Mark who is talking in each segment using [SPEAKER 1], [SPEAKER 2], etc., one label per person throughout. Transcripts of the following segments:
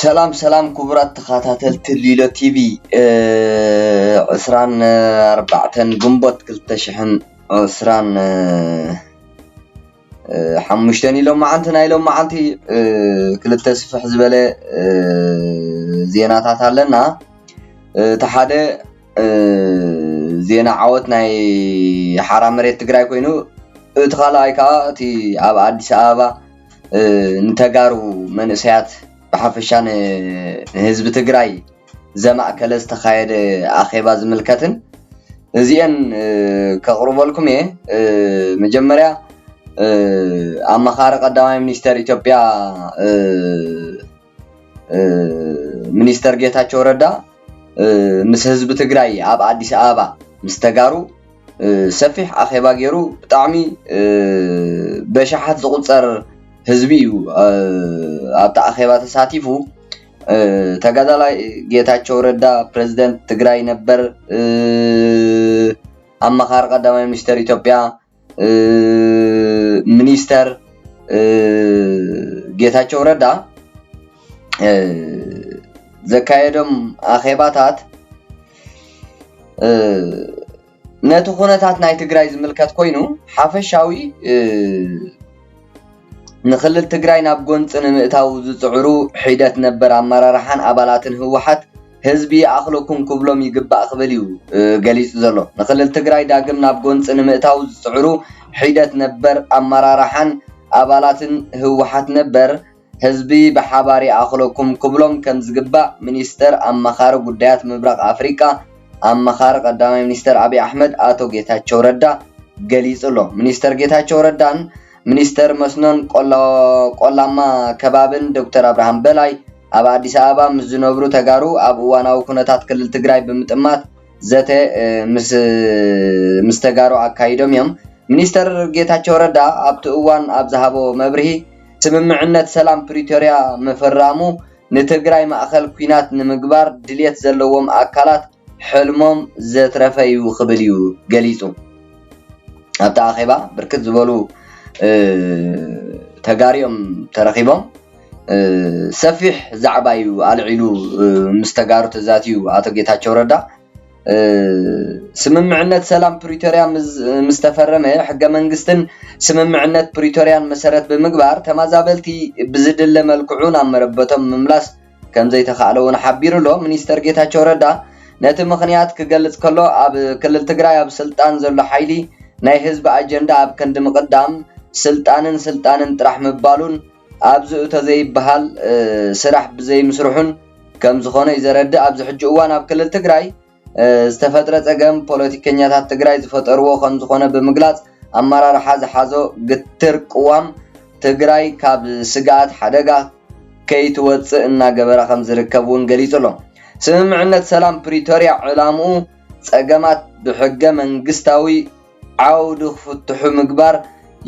[SPEAKER 1] ሰላም ሰላም ክቡራት ተኸታተልቲ ሊሎ ቲቪ ዕስራን ኣርባዕተን ግንቦት ክልተ ሽሕን ዕስራን ሓሙሽተን እዩ ሎመዓንቲ ናይ ሎመዓንቲ ክልተ ስፍሕ ዝበለ ዜናታት ኣለና እቲ ሓደ ዜና ዓወት ናይ ሓራ መሬት ትግራይ ኮይኑ እቲ ካልኣይ ከዓ እቲ ኣብ ኣዲስ ኣበባ ንተጋሩ መንእሰያት ብሓፈሻ ንህዝቢ ትግራይ ዘማእከለ ዝተኻየደ ኣኼባ ዝምልከትን እዚኤን ከቕርበልኩም እየ። መጀመርያ ኣማኻሪ ቀዳማይ ሚኒስተር ኢትዮጵያ ሚኒስተር ጌታቸው ረዳ ምስ ህዝቢ ትግራይ ኣብ ኣዲስ ኣበባ ምስ ተጋሩ ሰፊሕ ኣኼባ ገይሩ ብጣዕሚ በሽሓት ዝቑፀር ህዝቢ እዩ ኣብቲ ኣኼባ ተሳቲፉ ተጋዳላይ ጌታቸው ረዳ ፕሬዚደንት ትግራይ ነበር ኣማኻሪ ቀዳማይ ሚኒስተር ኢትዮጵያ ሚኒስተር ጌታቸው ረዳ ዘካየዶም ኣኼባታት ነቲ ኩነታት ናይ ትግራይ ዝምልከት ኮይኑ ሓፈሻዊ ንክልል ትግራይ ናብ ጎንፂ ንምእታው ዝፅዕሩ ሒደት ነበር ኣመራርሓን ኣባላትን ህወሓት ህዝቢ ይኣኽለኩም ክብሎም ይግባእ ክብል እዩ ገሊፁ ዘሎ። ንክልል ትግራይ ዳግም ናብ ጎንፂ ንምእታው ዝፅዕሩ ሒደት ነበር ኣመራርሓን ኣባላትን ህወሓት ነበር ህዝቢ ብሓባር ይኣኽለኩም ክብሎም ከምዝግባእ ሚኒስትር ኣማኻሪ ጉዳያት ምብራቕ ኣፍሪካ ኣማኻሪ ቀዳማይ ሚኒስትር ኣብይ ኣሕመድ ኣቶ ጌታቸው ረዳ ገሊፁ ኣሎ። ሚኒስትር ጌታቸው ረዳን ሚኒስተር መስኖን ቆላማ ከባብን ዶክተር ኣብርሃም በላይ ኣብ ኣዲስ ኣበባ ምስ ዝነብሩ ተጋሩ ኣብ እዋናዊ ኩነታት ክልል ትግራይ ብምጥማት ዘተ ምስ ተጋሩ ኣካይዶም እዮም። ሚኒስተር ጌታቸው ረዳ ኣብቲ እዋን ኣብ ዝሃቦ መብርሂ ስምምዕነት ሰላም ፕሪቶርያ ምፍራሙ ንትግራይ ማእኸል ኲናት ንምግባር ድሌት ዘለዎም ኣካላት ሕልሞም ዘትረፈ'ዩ ክብል'ዩ ገሊጹ። ኣብቲ ኣኼባ ብርክት ዝበሉ ተጋሩ'ዮም ተረኺቦም። ሰፊሕ ዛዕባ'ዩ ኣልዒሉ ምስ ተጋሩ ተዛትዩ ኣቶ ጌታቸው ረዳ። ስምምዕነት ሰላም ፕሪቶርያ ምስ ተፈረመ ሕገ መንግስትን ስምምዕነት ፕሪቶርያን መሰረት ብምግባር ተመዛበልቲ ብዝድለ መልክዑ ናብ መረበቶም ንምምላስ ከምዘይተኻእለ'ውን ሓቢሩ'ሎ። ሚኒስተር ጌታቸው ረዳ ነቲ ምኽንያት ክገልጽ ከሎ፣ ኣብ ክልል ትግራይ ኣብ ስልጣን ዘሎ ሓይሊ ናይ ህዝቢ ኣጀንዳ ኣብ ክንዲ ምቕዳም ስልጣንን ስልጣንን ጥራሕ ምባሉን ኣብዚ እቶ ዘይበሃል ስራሕ ብዘይምስርሑን ከምዝኾነ'ዩ ዘረድእ። ኣብዚ ሕጂ እዋን ኣብ ክልል ትግራይ ዝተፈጥረ ፀገም ፖለቲከኛታት ትግራይ ዝፈጠርዎ ከምዝኾነ ብምግላፅ፣ ኣመራርሓ ዝሓዞ ግትር ቅዋም ትግራይ ካብ ስግኣት ሓደጋ ከይትወፅእ እናገበረ ከምዝርከብ እውን ገሊፁ ኣሎ። ስምምዕነት ሰላም ፕሪቶርያ ዕላምኡ ፀገማት ብሕገ መንግስታዊ ዓውዲ ክፍትሑ ምግባር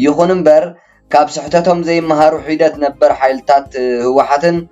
[SPEAKER 1] ይኹን እምበር ካብ ስሕተቶም ዘይመሃሩ ሒደት ነበር ሓይልታት ህወሓትን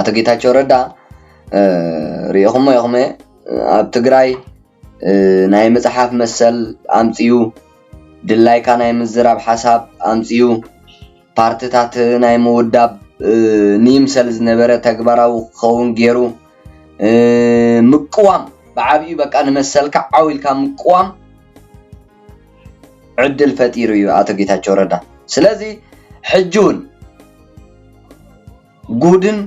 [SPEAKER 1] ኣቶ ጌታቸው ረዳ ሪኢኹሞ ኢኹም ኣብ ትግራይ ናይ ምፅሓፍ መሰል ኣምፅኡ፣ ድላይካ ናይ ምዝራብ ሓሳብ ኣምፅኡ፣ ፓርትታት ናይ ምውዳብ ንይምሰል ዝነበረ ተግባራዊ ክኸውን ገይሩ፣ ምቅዋም ብዓብዩ በቃ ንመሰልካ ዓው ኢልካ ምቅዋም ዕድል ፈጢሩ እዩ ኣቶ ጌታቸው ረዳ ስለዚ ሕጂ እውን ጉድን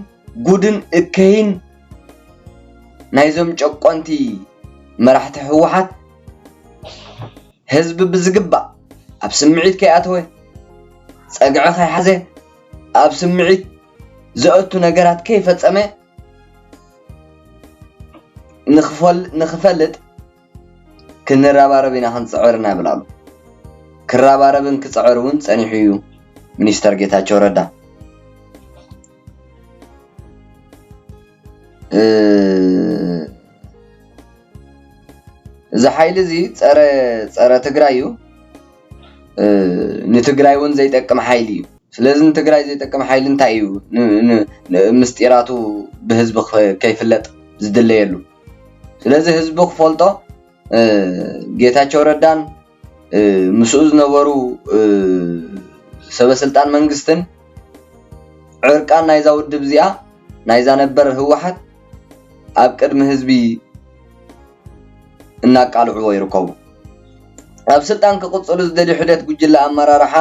[SPEAKER 1] ጉድን እከይን ናይዞም ጨቆንቲ መራሕቲ ህወሓት ህዝቢ ብዝግባእ ኣብ ስምዒት ከይኣተወ ፀግዒ ከይሓዘ ኣብ ስምዒት ዘእቱ ነገራት ከይፈፀመ ንክፈልጥ ክንረባረብ ኢና ክንፅዕር ኢና ይብላሉ። ክረባረብን ክፅዕር እውን ፀኒሑ እዩ ሚኒስተር ጌታቸው ረዳ። እዚ ሓይሊ እዚ ፀረ ፀረ ትግራይ እዩ። ንትግራይ እውን ዘይጠቅም ሓይሊ እዩ። ስለዚ ንትግራይ ዘይጠቅም ሓይሊ እንታይ እዩ ምስጢራቱ ብህዝቢ ከይፍለጥ ዝድለየሉ? ስለዚ ህዝቢ ክፈልጦ ጌታቸው ረዳን ምስኡ ዝነበሩ ሰበስልጣን መንግስትን ዕርቃን ናይዛ ውድብ እዚኣ ናይዛ ነበር ህወሓት ኣብ ቅድሚ ህዝቢ እናቃልዕዎ ይርከቡ። ኣብ ስልጣን ክቕፅሉ ዝደልዩ ሒደት ጉጅለ ኣመራርሓ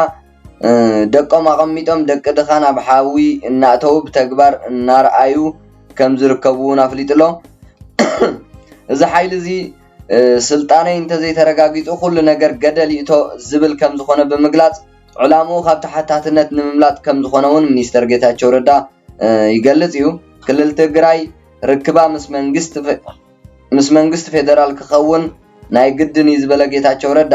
[SPEAKER 1] ደቆም ኣቐሚጦም ደቂ ድኻ ናብ ሓዊ እናእተዉ ብተግባር እናርኣዩ ከም ዝርከቡ እውን ኣፍሊጡ'ሎ። እዚ ሓይሊ እዚ ስልጣነይ እንተዘይተረጋጊጹ ኩሉ ነገር ገደል ይእቶ ዝብል ከም ዝኾነ ብምግላጽ ዕላምኡ ካብ ተሓታትነት ንምምላጥ ከም ዝኾነ እውን ሚኒስተር ጌታቸው ረዳ ይገልጽ እዩ። ክልል ትግራይ ርክባ ምስ መንግስቲ ፌደራል ክኸውን ናይ ግድን እዩ ዝበለ ጌታቸው ረዳ፣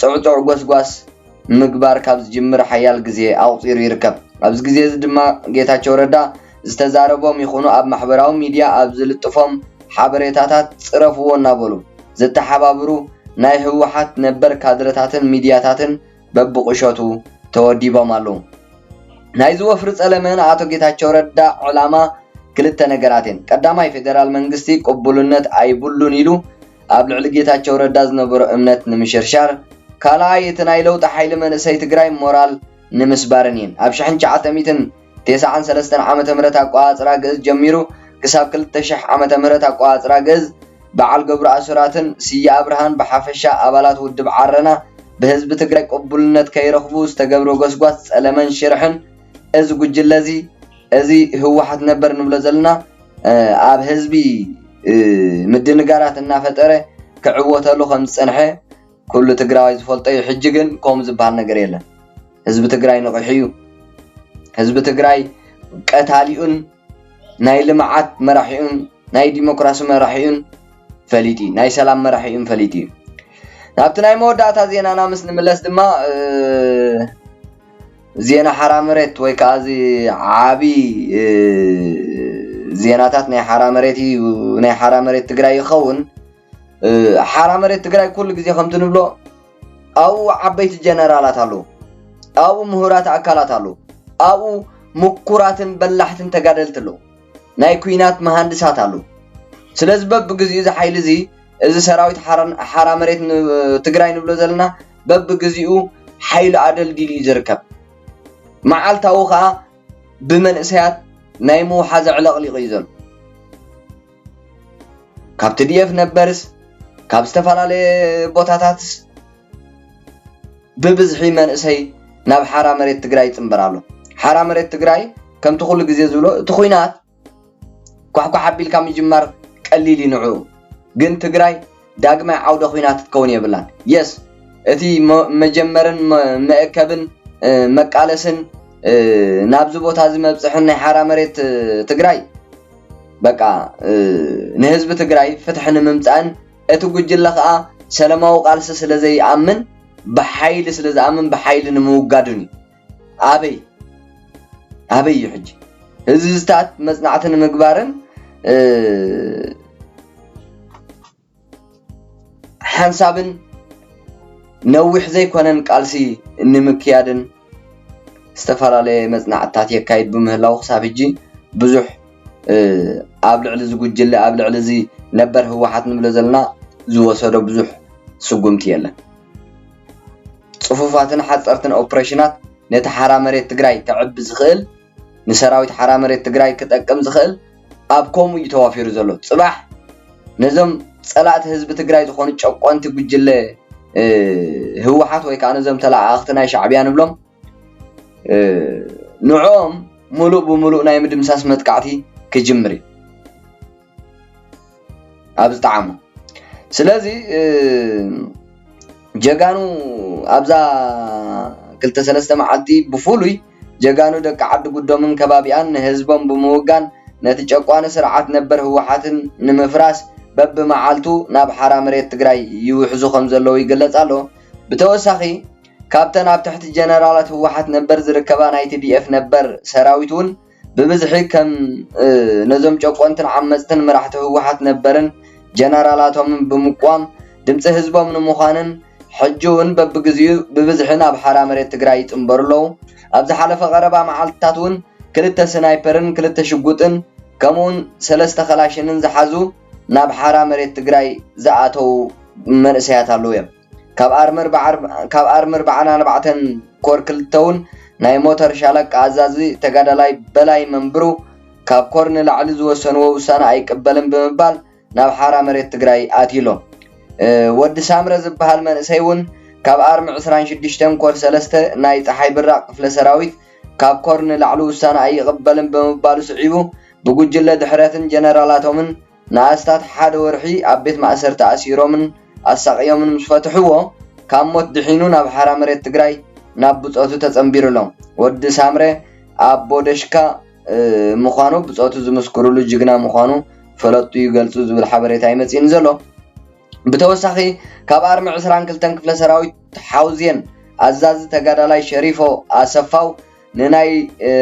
[SPEAKER 1] ጽዕጹዕ ጎስጓስ ምግባር ካብ ዝጅምር ሓያል ግዜ ኣቑጺሩ ይርከብ። ኣብዚ ግዜ እዚ ድማ ጌታቸው ረዳ ዝተዛረቦም ይኹኑ ኣብ ማሕበራዊ ሚድያ ኣብ ዝልጥፎም ሓበሬታታት ጽረፍዎ እናበሉ ዘተሓባብሩ ናይ ህወሓት ነበር ካድረታትን ሚድያታትን በብቑሸቱ ተወዲቦም ኣለዉ። ናይዚ ወፍሪ ጸለመ ንኣቶ ጌታቸው ረዳ ዕላማ ክልተ ነገራት እየን። ቀዳማይ ፌደራል መንግስቲ ቅቡልነት ኣይብሉን ኢሉ ኣብ ልዕሊ ጌታቸው ረዳ ዝነበሮ እምነት ንምሽርሻር፣ ካልኣይ እቲ ናይ ለውጢ ሓይሊ መንእሰይ ትግራይ ሞራል ንምስባርን እየን። ኣብ ሽሕን ትሽዓተ ሚእትን ቴስዓን ሰለስተን ዓመተ ምህረት ኣቆፃፅራ ግእዝ ጀሚሩ ክሳብ ክልተ ሽሕ ዓመተ ምህረት ኣቆፃፅራ ግእዝ በዓል ገብሩ ኣስራትን ስየ ኣብርሃን ብሓፈሻ ኣባላት ውድብ ዓረና ብህዝቢ ትግራይ ቅቡልነት ከይረኽቡ ዝተገብረ ጎስጓስ ፀለመን ሽርሕን እዚ ጉጅለ እዚ እዚ ህወሓት ነበር ንብሎ ዘለና ኣብ ህዝቢ ምድንጋራት እናፈጠረ ክዕወተሉ ከምዝፀንሐ ኩሉ ትግራዋይ ዝፈልጦ እዩ። ሕጂ ግን ከምኡ ዝበሃል ነገር የለን። ህዝቢ ትግራይ ነቒሑ እዩ። ህዝቢ ትግራይ ቀታሊኡን ናይ ልምዓት መራሒኡን ናይ ዲሞክራሲ መራሒኡን ፈሊጡ እዩ። ናይ ሰላም መራሒኡን ፈሊጡ እዩ። ናብቲ ናይ መወዳእታ ዜናና ምስ ንምለስ ድማ ዜና ሓራ መሬት ወይ ከኣ እዚ ዓቢ ዜናታት ናይ ሓራ መሬት እዩ ናይ ሓራ መሬት ትግራይ ይኸውን ሓራ መሬት ትግራይ ኩሉ ግዜ ከምቲ ንብሎ ኣብኡ ዓበይቲ ጀነራላት ኣለዉ ኣብኡ ምሁራት ኣካላት ኣለዉ ኣብኡ ምኩራትን በላሕትን ተጋደልቲ ኣለዉ ናይ ኩናት መሃንድሳት ኣለዉ ስለዚ በብግዜኡ እዚ ሓይሊ እዚ እዚ ሰራዊት ሓራ መሬት ትግራይ ንብሎ ዘለና በብግዜኡ ሓይሉ ኣደልዲሉ እዩ ዝርከብ። መዓልታዊ ከኣ ብመንእሰያት ናይ ምውሓዝ ኣዕለቕሊቑ እዩ ዘሎ። ካብ ትዲኤፍ ነበርስ ካብ ዝተፈላለየ ቦታታትስ ብብዝሒ መንእሰይ ናብ ሓራ መሬት ትግራይ ይጽንበር ኣሎ። ሓራ መሬት ትግራይ ከምቲ ኩሉ ግዜ ዝብሎ እቲ ኹናት፣ ኳሕኳሕ ኣቢልካ ምጅማር ቀሊል እዩ ንዑ ግን ትግራይ ዳግማይ ዓውደ ኹናት ክትከውን የብላን የስ እቲ መጀመርን መእከብን መቃለስን ናብዚ ቦታ እዚ መብፅሕን ናይ ሓራ መሬት ትግራይ በቃ ንህዝቢ ትግራይ ፍትሒ ንምምፃእን እቲ ጉጅለ ከዓ ሰለማዊ ቃልሲ ስለዘይኣምን ብሓይሊ ስለዝኣምን ብሓይሊ ንምውጋድን እዩ ኣበይ ኣበይ እዩ ሕጂ ህዝብታት መፅናዕቲ ንምግባርን ሓንሳብን ነዊሕ ዘይኮነን ቃልሲ ንምክያድን ዝተፈላለየ መፅናዕትታት የካይድ ብምህላው ክሳብ ሕጂ ብዙሕ ኣብ ልዕሊ እዚ ጉጅለ ኣብ ልዕሊ እዚ ነበር ህወሓት ንብሎ ዘለና ዝወሰዶ ብዙሕ ስጉምቲ የለን። ፅፉፋትን ሓፀርትን ኦፕሬሽናት ነቲ ሓራ መሬት ትግራይ ከዕቢ ዝኽእል ንሰራዊት ሓራ መሬት ትግራይ ክጠቅም ዝኽእል ኣብ ከምኡ እዩ ተዋፊሩ ዘሎ። ፅባሕ ነዞም ፀላእቲ ህዝቢ ትግራይ ዝኾኑ ጨቆንቲ ጉጅለ ህወሓት ወይ ከዓ ነዞም ተለኣኣኽቲ ናይ ሻዕቢያ ንብሎም፣ ንዕኦም ሙሉእ ብሙሉእ ናይ ምድምሳስ መጥቃዕቲ ክጅምር እዩ ኣብ ዝጠዓሞ ስለዚ ጀጋኑ ኣብዛ ክልተ ሰለስተ መዓልቲ ብፍሉይ ጀጋኑ ደቂ ዓዲ ጉዶምን ከባቢኣን ንህዝቦም ብምውጋን ነቲ ጨቋኒ ስርዓት ነበር ህወሓትን ንምፍራስ በብመዓልቱ ናብ ሓራ መሬት ትግራይ ይውሕዙ ከም ዘለዉ ይግለጽ ኣሎ። ብተወሳኺ ካብተን ኣብ ትሕቲ ጀነራላት ህወሓት ነበር ዝርከባ ናይ ቲዲኤፍ ነበር ሰራዊት ውን ብብዝሒ ከም ነዞም ጨቆንትን ዓመፅትን መራሕቲ ህወሓት ነበርን ጀነራላቶምን ብምቅዋም ድምፂ ህዝቦም ንምዃንን ሕጂ ውን በብግዚኡ ብብዝሒ ናብ ሓራ መሬት ትግራይ ይፅምበሩ ኣለው። ኣብ ዝሓለፈ ቀረባ መዓልትታት ውን ክልተ ስናይፐርን ክልተ ሽጉጥን ከምኡ ውን ሰለስተ ከላሽንን ዝሓዙ ናብ ሓራ መሬት ትግራይ ዝኣተው መንእሰያት ኣለው ዮም። ካብ ኣርምር በዓን ኣርባዕተን ኮር ክልተውን ናይ ሞተር ሻለቃ ኣዛዚ ተጋዳላይ በላይ መንብሩ ካብ ኮር ንላዕሊ ዝወሰንዎ ውሳነ ኣይቅበልን ብምባል ናብ ሓራ መሬት ትግራይ ኣትዩ'ሎ። ወዲ ሳምረ ዝብሃል መንእሰይ ውን ካብ ኣርሚ ዕስራን ሽዱሽተን ኮር ሰለስተ ናይ ጸሓይ ብራቕ ክፍለ ሰራዊት ካብ ኮር ንላዕሊ ውሳነ ኣይቕበልን ብምባሉ ስዒቡ ብጉጅለ ድሕረትን ጀነራላቶምን ንኣስታት ሓደ ወርሒ ኣብ ቤት ማእሰርቲ ኣሲሮምን ኣሳቕዮምን ምስ ፈትሑዎ ካብ ሞት ድሒኑ ናብ ሓራ መሬት ትግራይ ናብ ብጾቱ ተጸንቢሩ ኣሎ። ወዲ ሳምረ ኣቦ ደሽካ ምዃኑ ብጾቱ ዝምስክሩሉ ጅግና ምዃኑ ፈለጥቱ ይገልጹ ዝብል ሓበሬታ እዩ መጺኡኒ ዘሎ። ብተወሳኺ ካብ ኣርሚ ዕስራን ክልተን ክፍለ ሰራዊት ሓውዜን ኣዛዚ ተጋዳላይ ሸሪፎ ኣሰፋው ንናይ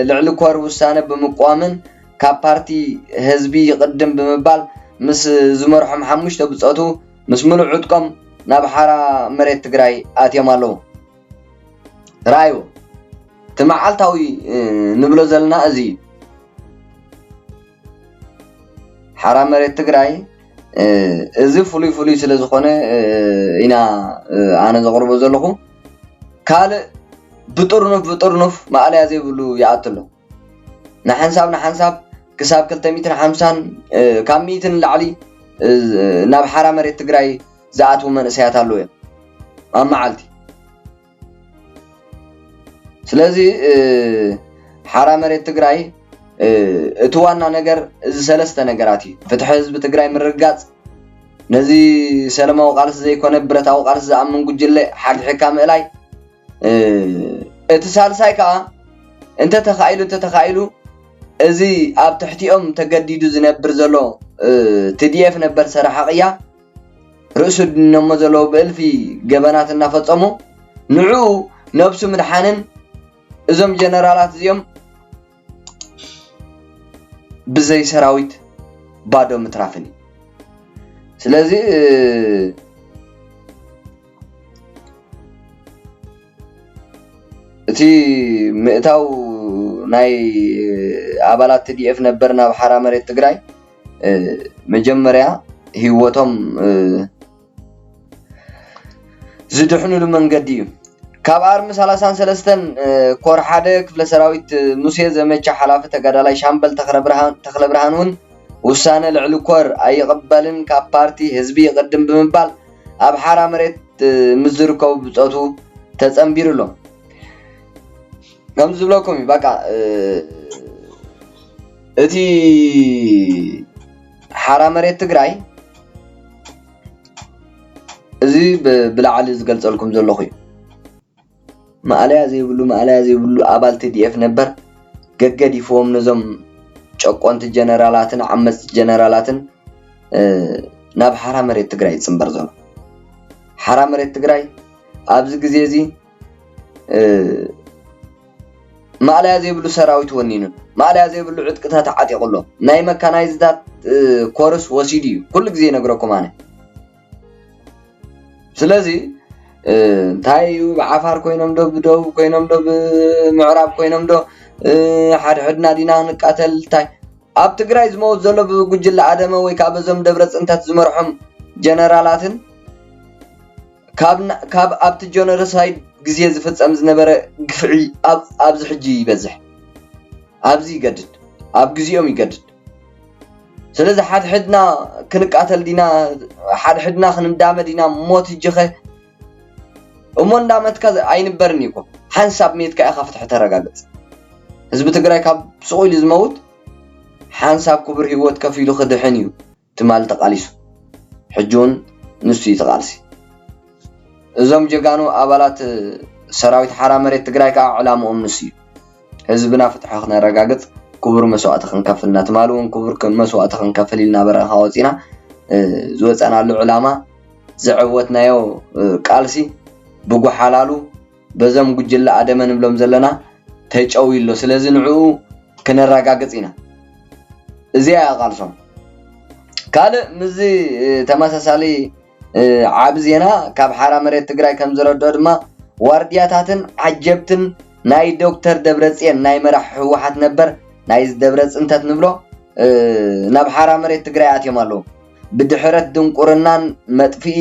[SPEAKER 1] ልዕሊ ኮር ውሳነ ብምቅዋምን ካብ ፓርቲ ህዝቢ ይቅድም ብምባል ምስ ዝመርሖም ሓሙሽተ ብፆቱ ምስ ምሉእ ዕጥቆም ናብ ሓራ መሬት ትግራይ ኣትዮም ኣለው። ርኣዩ እቲ መዓልታዊ ንብሎ ዘለና እዚ እዩ። ሓራ መሬት ትግራይ እዚ ፍሉይ ፍሉይ ስለ ዝኾነ ኢና ኣነ ዘቕርቦ ዘለኹ ካልእ ብጥርኑፍ ብጥርኑፍ ማእለያ ዘይብሉ ይኣቱ ኣሎ ንሓንሳብ ንሓንሳብ ክሳብ ክልተ ሚትን ሓምሳን ካብ ሚእትን ንላዕሊ ናብ ሓራ መሬት ትግራይ ዝኣትዉ መንእሰያት ኣለዉ እዮም ኣብ መዓልቲ ስለዚ ሓራ መሬት ትግራይ እቲ ዋና ነገር እዚ ሰለስተ ነገራት እዩ። ፍትሒ ህዝቢ ትግራይ ምርግጋፅ፣ ነዚ ሰለማዊ ቃልሲ ዘይኮነ ብረታዊ ቃልሲ ዝኣምን ጉጅለ ሓግሒግካ ምእላይ፣ እቲ ሳልሳይ ከዓ እንተተኻኢሉ እንተተኻኢሉ እዚ ኣብ ትሕቲኦም ተገዲዱ ዝነብር ዘሎ ቲዲኤፍ ነበር ሰራሒ ቅያ፣ ርእሱ ድነሞ ዘለዉ ብእልፊ ገበናት እናፈጸሙ ንዕኡ ነብሱ ምድሓንን እዞም ጀነራላት እዚኦም ብዘይ ሰራዊት ባዶ ምትራፍን እዩ ስለዚ እቲ ምእታው ናይ ኣባላት ትዲኤፍ ነበር ናብ ሓራ መሬት ትግራይ መጀመርያ ህይወቶም ዝድሕንሉ መንገዲ እዩ። ካብ ኣርሚ ሰላሳን ሰለስተን ኮር ሓደ ክፍለ ሰራዊት ሙሴ ዘመቻ ሓላፊ ተጋዳላይ ሻምበል ተኽለብርሃን እውን ውሳነ ልዕሊ ኮር ኣይቕበልን ካብ ፓርቲ ህዝቢ ይቕድም ብምባል ኣብ ሓራ መሬት ምስ ዝርከቡ ብፆቱ ተፀንቢሩ ኣሎ። ከምዚ ዝብለኩም እዩ በቃ እቲ ሓራ መሬት ትግራይ እዚ ብላዕሊ ዝገልፀልኩም ዘለኹ እዩ። ማእለያ ዘይብሉ ማእለያ ዘይብሉ ኣባል ቲዲኤፍ ነበር ገገዲፍዎም ነዞም ጨቆንቲ ጀነራላትን ዓመፅቲ ጀነራላትን ናብ ሓራ መሬት ትግራይ ዝፅምበር ዘሎ። ሓራ መሬት ትግራይ ኣብዚ ግዜ እዚ ማእለያ ዘይብሉ ሰራዊት ወኒኑን ማእለያ ዘይብሉ ዕጥቅታት ዓጢቑ ኣሎ ናይ መካናይዝታት ኮርስ ወሲዱ እዩ ኩሉ ግዜ ይነግረኩም ኣነ ስለዚ እንታይ እዩ ብዓፋር ኮይኖም ዶ ብደቡብ ኮይኖም ዶ ብምዕራብ ኮይኖም ዶ ሓድሕድና ዲና ክንቃተል እንታይ ኣብ ትግራይ ዝመውት ዘሎ ብጉጅለ ኣደመ ወይ ከዓ በዞም ደብረ ፅንተት ዝመርሖም ጀነራላትን ካብ ኣብቲ ጆኖረሳይድ ግዜ ዝፍጸም ዝነበረ ግፍዒ ኣብዚ ሕጂ ይበዝሕ ኣብዚ ይገድድ ኣብ ግዚኦም ይገድድ ስለዚ ሓድሕድና ክንቃተል ዲና ሓድሕድና ክንዳመ ዲና ሞት እጅኸ እሞ እንዳመትካ ኣይንበርን እዩ እኮ ሓንሳብ ሜትካ ኢኻ ፍትሒ ተረጋግጽ ህዝቢ ትግራይ ካብ ስቑኢሉ ዝመውት ሓንሳብ ክቡር ሂወት ከፊሉ ክድሕን እዩ ትማል ተቃሊሱ ሕጂ ውን ንሱ እዩ ተቃልሲ እዞም ጀጋኑ ኣባላት ሰራዊት ሓራ መሬት ትግራይ ካኣ ዕላምኦም ንሱ እዩ ህዝብና ፍትሑ ክነረጋግፅ ክቡር መስዋእቲ ክንከፍል እና ትማል ውን ክቡር መስዋእቲ ክንከፍል ኢልና በረኻ ወፂና ዝወፀእናሉ ዕላማ ዘዐወትናዮ ቃልሲ ብጎሓላሉ በዞም ጉጅለ ኣደመ ንብሎም ዘለና ተጨውዩ ኣሎ ስለዚ ንዕኡ ክነራጋግጽ ኢና እዚኣ እያ ቃልሶም ካልእ ምስዚ ተመሳሳሊ ዓብ ዜና ካብ ሓራ መሬት ትግራይ ከም ዝረድኦ ድማ ዋርድያታትን ዓጀብትን ናይ ዶክተር ደብረጽዮን ናይ መራሕ ህወሓት ነበር ናይ ደብረ ጽንተት ንብሎ ናብ ሓራ መሬት ትግራይ ኣትዮም ኣለዉ ብድሕረት ድንቁርናን መጥፍኢ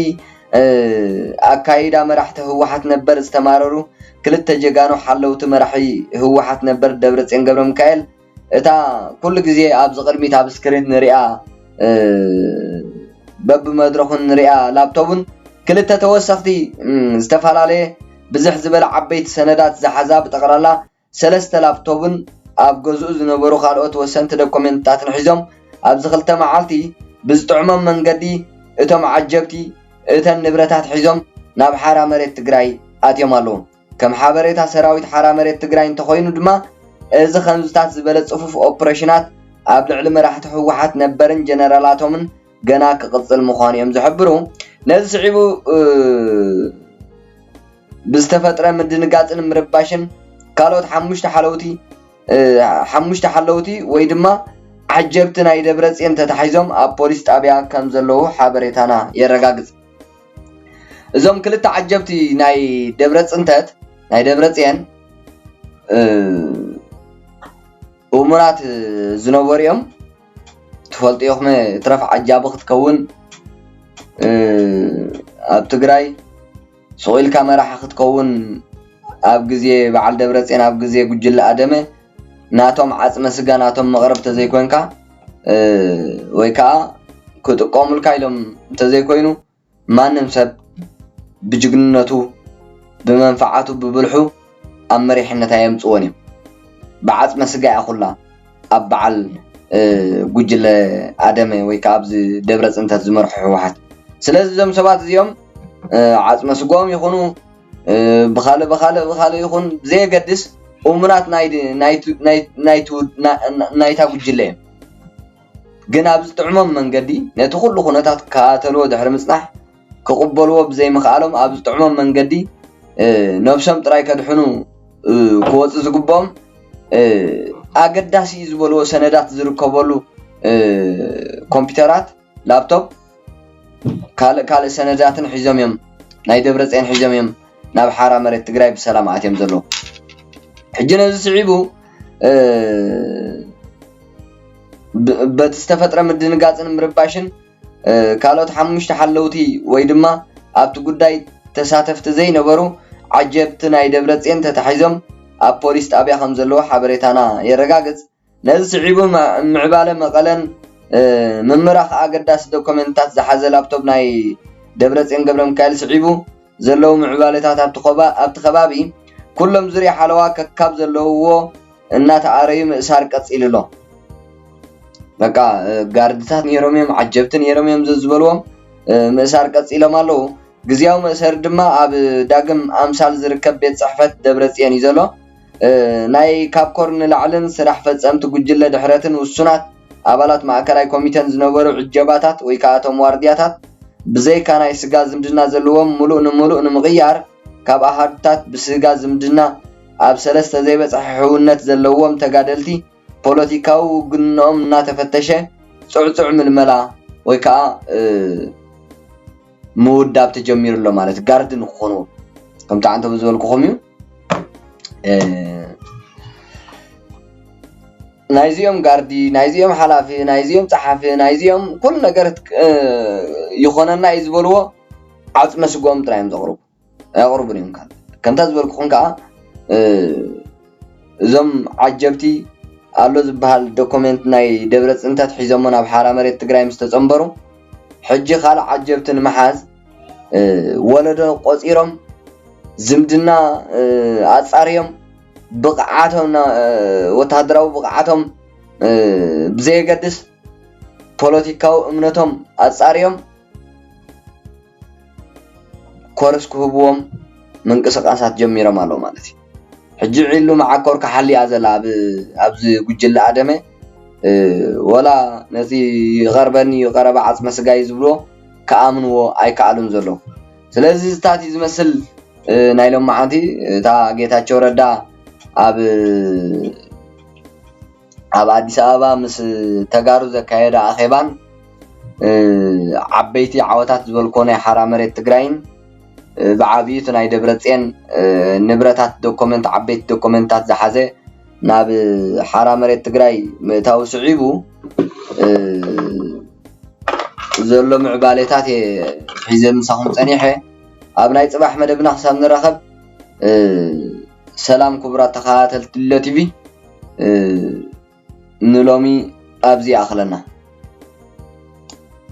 [SPEAKER 1] ኣካይዳ መራሕቲ ህወሓት ነበር ዝተማረሩ ክልተ ጀጋኑ ሓለውቲ መራሒ ህወሓት ነበር ደብረፅዮን ገብረሚካኤል እታ ኩሉ ግዜ ኣብዚ ቅድሚት ኣብ ስክሪን ንሪኣ በብመድረኹን ንሪኣ ላፕቶብን ክልተ ተወሰኽቲ ዝተፈላለየ ብዝሕ ዝበለ ዓበይቲ ሰነዳት ዝሓዛ ብጠቕላላ ሰለስተ ላፕቶብን ኣብ ገዝኡ ዝነበሩ ካልኦት ወሰንቲ ደኮሜንትታትን ሒዞም ኣብዚ ክልተ መዓልቲ ብዝጥዕሞም መንገዲ እቶም ዓጀብቲ እተን ንብረታት ሒዞም ናብ ሓራ መሬት ትግራይ ኣትዮም ኣለዉ። ከም ሓበሬታ ሰራዊት ሓራ መሬት ትግራይ እንተኾይኑ ድማ እዚ ከምዝታት ዝበለ ፅፉፍ ኦፕሬሽናት ኣብ ልዕሊ መራሕቲ ህወሓት ነበርን ጀነራላቶምን ገና ክቕጽል ምዃኑ እዮም ዝሕብሩ። ነዚ ስዒቡ ብዝተፈጥረ ምድንጋጽን ምርባሽን ካልኦት ሓሙሽተ ሓለውቲ ሓሙሽተ ሓለውቲ ወይ ድማ ዓጀብቲ ናይ ደብረጽዮን ተታሒዞም ኣብ ፖሊስ ጣብያ ከም ዘለዉ ሓበሬታና የረጋግጽ። እዞም ክልተ ዓጀብቲ ናይ ደብረ ፅንተት ናይ ደብረ ፅየን እሙራት ዝነበሩ እዮም። ትፈልጥዮ ክነ እትረፍ ዓጃቢ ክትከውን ኣብ ትግራይ ሱቅ ኢልካ መራሒ ክትከውን ኣብ ግዜ በዓል ደብረጼን ኣብ ግዜ ጉጅለ ኣደመ ናቶም ዓጽመ ስጋ ናቶም መቅረብ ተዘይኮንካ ወይ ከኣ ክጥቀሙልካ ኢሎም እንተዘይኮይኑ ማንም ሰብ ብጅግንነቱ ብመንፍዓቱ ብብልሑ ኣብ መሪሕነት ኣየምጽዎን እዮም ብዓጽመ ስጋ እያ ኩላ ኣብ በዓል ጉጅለ ኣደመ ወይ ከኣ ኣብዚ ደብረ ጽንተት ዝመርሖ ህወሓት ስለዚ እዞም ሰባት እዚኦም ዓጽመ ስግኦም ይኹኑ ብኻልእ ብኻልእ ብኻልእ ይኹን ብዘየገድስ እሙናት ናይታ ጉጅለ እዮም። ግን ኣብ ዝጥዕሞም መንገዲ ነቲ ኩሉ ኩነታት ክከታተልዎ ድሕሪ ምጽናሕ ክቕበልዎ ብዘይምኽኣሎም ኣብ ዝጥዕሞም መንገዲ ነብሶም ጥራይ ከድሕኑ ክወጹ ዝግብኦም ኣገዳሲ'ዩ ዝበልዎ ሰነዳት ዝርከበሉ ኮምፒተራት፣ ላፕቶፕ፣ ካልእ ካልእ ሰነዳትን ሒዞም እዮም ናይ ደብረፅየን ሒዞም እዮም ናብ ሓራ መሬት ትግራይ ብሰላም ኣትዮም ዘለዉ ሕጂ ነዚ ስዒቡ በቲ ዝተፈጥረ ምድንጋፅን ምርባሽን ካልኦት ሓሙሽተ ሓለውቲ ወይ ድማ ኣብቲ ጉዳይ ተሳተፍቲ ዘይነበሩ ዓጀብቲ ናይ ደብረፅየን ተታሒዞም ኣብ ፖሊስ ጣብያ ከም ዘለዉ ሓበሬታና የረጋግፅ ነዚ ስዒቡ ምዕባለ መቐለን ምምራኽ ኣገዳሲ ዶኮመንትታት ዝሓዘ ላፕቶፕ ናይ ደብረጽዮን ገብረሚካኤል ስዒቡ ዘለዉ ምዕባለታት ኣብቲ ከባቢ ኩሎም ዙርያ ሓለዋ ከካብ ዘለዉዎ እናተኣረዩ ምእሳር ቀጺሉ'ሎ። በቃ ጋርድታት ኔሮም እዮም፣ ዓጀብቲ ኔሮም እዮም ዘዝበልዎም ምእሳር ቀጺሎም ኣለዉ። ግዝያዊ መእሰሪ ድማ ኣብ ዳግም ኣምሳል ዝርከብ ቤት ፅሕፈት ደብረፅዮን እዩ ዘሎ። ናይ ካብ ኮር ንላዕልን ስራሕ ፈፀምቲ ጉጅለ ድሕረትን ውሱናት ኣባላት ማእከላይ ኮሚቴን ዝነበሩ ዕጀባታት ወይ ከዓ እቶም ዋርድያታት ብዘይካ ናይ ስጋ ዝምድና ዘለዎም ሙሉእ ንሙሉእ ንምቕያር ካብ ኣሃዱታት ብስጋ ዝምድና ኣብ ሰለስተ ዘይበፅሐ ሕውነት ዘለዎም ተጋደልቲ ፖለቲካዊ ውግንንኦም እናተፈተሸ ፅዕፁዕ ምልመላ ወይ ከዓ ምውዳብ ተጀሚሩ ኣሎ ማለት እዩ። ጋርዲ ንክኾንዎም ከምቲ ዓንተቦ ዝበልኩኹም እዩ። ናይ እዚኦም ጋርዲ፣ ናይ እዚኦም ሓላፊ፣ ናይ እዚኦም ፀሓፊ፣ ናይ እዚኦም ኩሉ ነገር ይኾነና እዩ ዝበልዎ ዓፅመ ስግኦም ጥራይ እዮም ዘቕርቡ። ኣየቕርቡን እዮም ካብ ከምታ ዝበልኩኹም ከኣ እዞም ዓጀብቲ ኣሎ ዝበሃል ዶኮሜንት ናይ ደብረፅ እንተት ሒዘሞ ናብ ሓራ መሬት ትግራይ ምስ ተፀምበሩ ሕጂ ካልእ ዓጀብቲ ንምሓዝ ወለዶ ቆፂሮም ዝምድና ኣፃርዮም ብቕዓቶም ወተሃደራዊ ብቕዓቶም ብዘየገድስ ፖለቲካዊ እምነቶም ኣፃርዮም ኮርስ ክህብዎም ምንቅስቃሳት ጀሚሮም ኣለዉ ማለት እዩ። ሕጂ ዒሉ መዓኮር ክሓሊ እያ ዘላ ኣብዚ ጉጅለ ኣደመ ወላ ነቲ ይቀርበኒ እዩ ቀረባ ዓጽመ ስጋይ እዩ ዝብልዎ ክኣምንዎ ኣይከኣሉን ዘለዉ። ስለዚ እዚታት እዩ ዝመስል ናይ ሎምዓንቲ እታ ጌታቸው ረዳ ኣብ ኣብ ኣዲስ ኣበባ ምስ ተጋሩ ዘካየዶ ኣኼባን ዓበይቲ ዓወታት ዝበልኩዎ ናይ ሓራ መሬት ትግራይን ብዓብዩ እቲ ናይ ደብረጼን ንብረታት ዶኮመንት ዓበይቲ ዶኮመንትታት ዝሓዘ ናብ ሓራ መሬት ትግራይ ምእታዉ ስዒቡ ዘሎ ምዕባሌታት እየ ሒዘ ምሳኹም ፀኒሐ። ኣብ ናይ ፅባሕ መደብና ክሳብ ንራኸብ ሰላም ኩቡራት ተኻታተልቲ ድሎ ቲቪ ንሎሚ ኣብዚ ይኣኽለና።